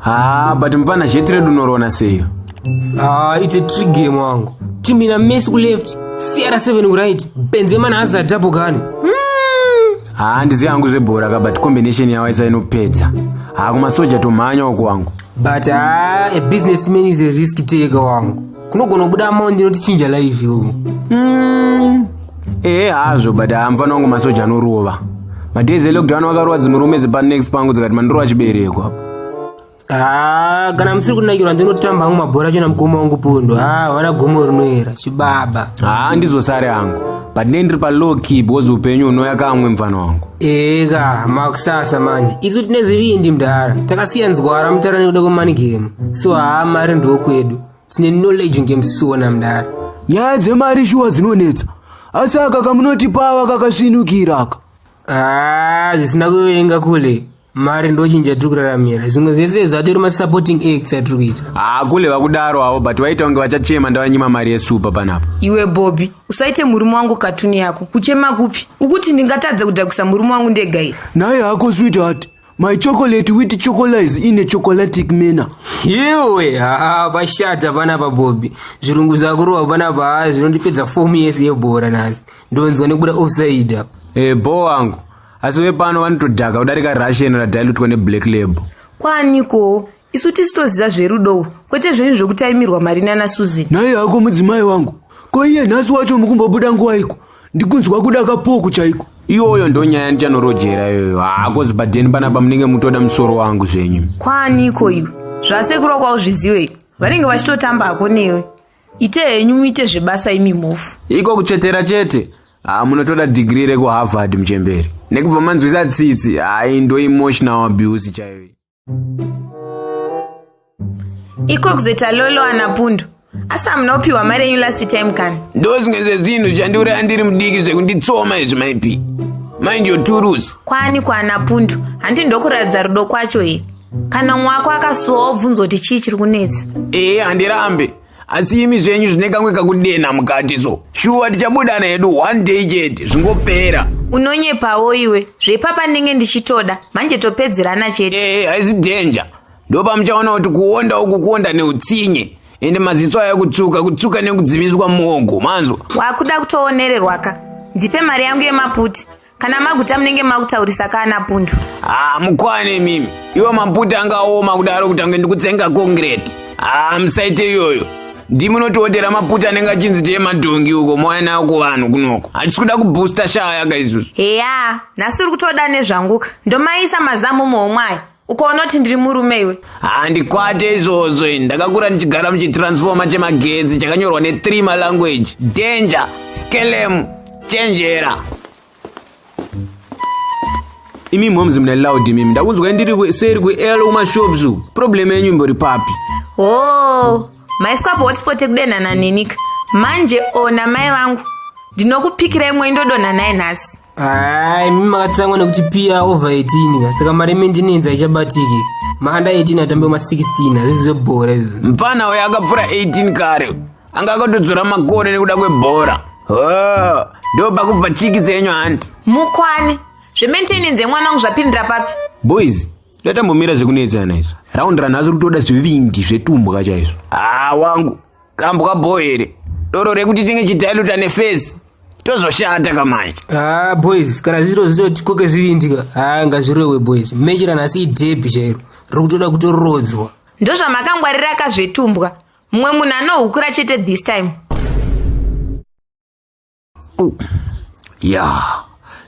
Ah, but mpana jet red unorona seyo Ah, it's a trick game wangu timu ina messi kuleft cr7 kuright benzema naazadhapo gani haa ndizi hangu zvebhora ka but combination yawo isa inopedza haa kumasoja tomhanya wako wangu but haa a business man is a risk taker wangu kunogona kubuda amount inotichinja life iwoyo mm. ehe hazvo but haa mfana wangu masoja anorova madays elockdown vakarowa dzimurume dzepanext pangu dzikati mandorova chibereko apo Ah, kana musiri kunakirwa ndinotamba hangu mabhora chena mukoma wangu pondo ah, havana gomo rinoera chibaba haa ndizosare hangu but ne ndiri palow key because upenyu hunouya kamwe mfana wangu eka makusasa manje isu tine zvivindi mdhara takasiya nzwara mutara nekuda kwemani game so haa mari ndokwedu tine knowledge ngemsona mdhara nyaya dzemari shuwa dzinonetsa asi aka kamunotipawa kakasvinukira aka ah, zvisina kuvenga kule mari ndochinja tiri kuraramira zvimwe zvese zvatori masupporting acts atiri kuita hakule vakudaro avo but vaita kunge vachachema ndavanyima mari yesupa panapa iwe bobi usaite murume wangu katuni yako kuchema kupi ukuti ndingatadze kudhakisa murume wangu ndega iri naye hako sweetheart my chocolate with chocolize in a chocolatic manner iwe haa pashata panapa bobi zvirungu zvakurova panapa haa zvinondipedza fomu yese yebhora nhasi ndonzwa nekubuda offside apa e bho wangu asi vepano vanotodhaka kudarika russian radilutwa neblack label kwaaniko isu tisi toziva zverudo kwete zvenyu zvekutaimirwa mari nana susan nhai hako mudzimai wangu ko iye nhasi wacho mukumbobuda nguwaiko ndikunzwa kuda kapoku chaiko iyoyo ndo nyaya ndichanorojera iyoyo hako zibadheni panapa munenge mutoda musoro wangu zvenyu kwaaniko iwe zvasekuru wako auzviziwei vanenge vachitotamba hako newe ite henyu muite zvebasa imi mhofu iko kutsvetera chete haa munotoda dhigiri rekuharvard muchemberi nekubva manzwisa tsitsi hai ndo emotional abuse chaiyo iko kuzeta lolo ana pundu asi hamuna kupiwa mari yenyu last time kani ndo zvimwe zvezvinhu zvandiuraya ndiri mudiki zvekunditsoma izvi maipi mind your turus kwani kwaana pundu handi ndokuratidza rudo kwacho here kana mumwe wako akasuwa wobvunzwa kuti chii chiri kunetsa ee handirambe asi imi zvenyu zvine kamwe kakudena mukati so shuwa tichabudana hedu one day chete zvingopera unonyepawo iwe zvepapa ndenge ndichitoda manje topedzerana chete ee haisi danger ndopamuchaona kuti kuonda uku kuonda neutsinye ende maziso ayo kutsuka kutsuka nekudzimiswa muogo manzwa wakuda kutoonererwaka ndipe mari yangu yemaputi kana maguta munenge makutaurisa kana pundu haa ah, mukwane mimi iwo maputa angaoma kudaro kuti ange ndikutsenga kongireti haa ah, musaite iyoyo ndimunotiotera maputa anenge achinzi tee madhongi uko mouya nayo kuvanhu kunoko hatisi kuda kubhusta shaya ka isusu heya nhasi uri kutoda nezvanguka ndomaisa mazamu muhomwe ayo ukaona kuti ndiri murume iwe handikwate izvozvo ini ndakakura ndichigara muchitransfoma chemagetsi chakanyorwa ne3 malanguage danger skelem chenjera imi moms mune loud imimi ndakunzwai ndiri ku- seri kuel kumashops uku problem yenyu imbori papi hoo maiswa pahotspot ekudenhana nenika manje ona mai vangu ndinokupikira imwe indodonha naye nhasi Hai, mimi makatsamwa nekuti pia over 18 saka mari maintenance haichabatiki. Maanda 18 atambe ma 16 hazvizi zvebhora izvo. Mfana uyo akapfura 18 kare. Anga akatodzora makore nekuda kwebhora. Oh, ndo pakubva chiki dzenyu hanti. Mukwane. Zvemaintenance yemwana wangu zvapindira papi? Boys, tatambomira zvekunetsana izvo. Round run asi kutoda zvivindi zvetumbwa chaizvo. Ah, wangu. kambwa boy here doro rekuti tinge chidailuta nefesi tozoshata kamanje ha ah, boys kana zviro zvinoti koke zvivindika ha ah, ngazvirowe boys mechera nhasi idhebhi chairo riri kutoda kutoroodzwa ndozvamakangwarira kazvetumbwa mumwe munhu anohukura chete this time ya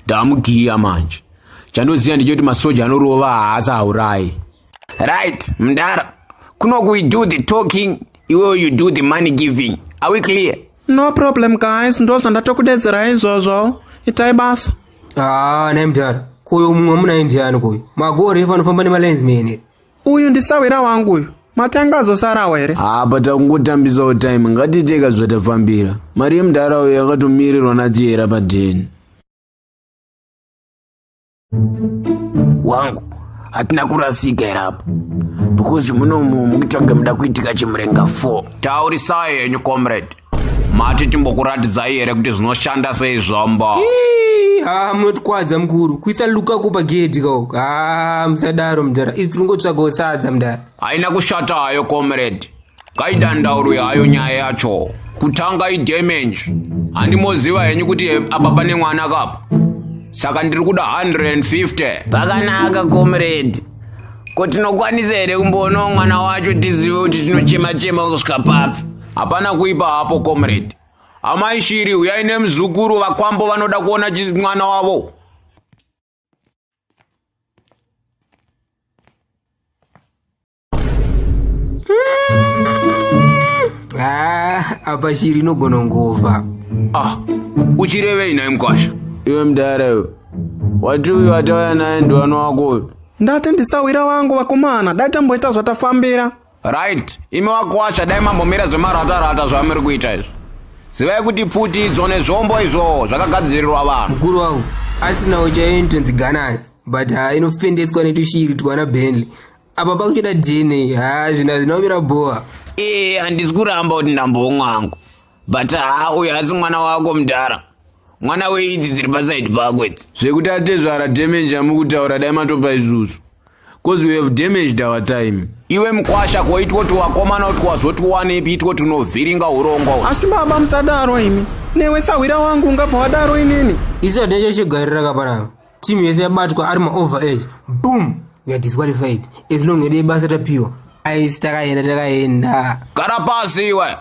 ndamugiya manje chandoziva ndechekuti masoja anorova haasi haurayi right mdara kunoku we do the talking iwewe you do the money giving are we clear no problem guys ndozvandatokudedzera izvozvo itai basa haa ah, naimdara koyo mumwe munaimdiyani koyo magore efa anofamba nemalens mene uyu ndisahwira wangu uyu matanga azosarawo here apa takungotambisawo time ngatiteka zvatafambira mari yemudhara uyo yakatomirirwa nachiyera padheni wangu hatina kurasika here apa because munomu mukitsvage muda kuitika chimurenga 4 taurisai henyu comrade mati timbokuratidzai here kuti zvinoshanda sei zvombo haa munotikwadza mukuru kuisa luka ko pagedhi kao haa musadaro mudhara isi tiringotsvagawo sadza mudhara haina kushata hayo comrade kaidandaurwe hayo nyaya yacho kutanga idamage handimoziva henyu kuti apa pane mwana kapa saka ndiri kuda 150 pakanaka comrade ko tinokwanisa here kumboonao mwana wacho tizive kuti tinochema chema kusvika papi hapana kuipa hapo comrade amai shiri huyai nemuzukuru vakwambo vanoda kuona mwana wavo ah, apa shiri inogona ngova ah, uchirevei naye mkwasha iwe mdara iwe wati uyu watauya naye ndiwani wako uyu ndati ndisawira wangu vakomana dai tamboita zvatafambira right imi wakuwasha dai mambomira zvemaratarata zvamuri kuita izvi zivai kuti pfuti idzo nezvombo izvo zvakagadzirirwa vanhu mukuru wangu asinawo chaiyo initonzi ganas but ha inofendeswa netushiri twana benly apa pakuchida dna ha zvina zvinomira bhowa ee handisi kuramba kuti ndambomwangu but haa uyo asi mwana wako mudhara mwana weidzi dziri pasaidi pako idzi zvekuti atezvara damage amukutaura dai matopa isusu bcause we have damaged our time iwe mkwasha ko itwo tiwakomana kuti wazoti wanepi itwo tinovhiringa urongwa asi baba musadaro imi newe sahwira wangu ungabva wadaro inini iso decho chigarira kaparava team yese yabatwa ari maover age boom we are disqualified as long ede basa tapiwa aisi takaenda takaenda gara pasi iwe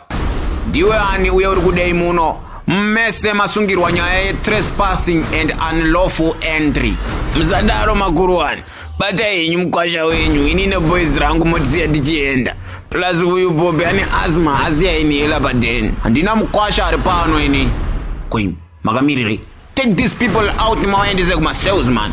ndiwe ani uye uri kudei muno mese masungirwa nyaya yetrespassing and unlawful entry musadaro makuruwani batai henyu mukwasha wenyu ini neboys rangu motisiya tichienda plus uyu bobi ane asma asiya inihela padeni handina mukwasha ari pano ini kwim makamirirei take these people out mawaendese kumasales man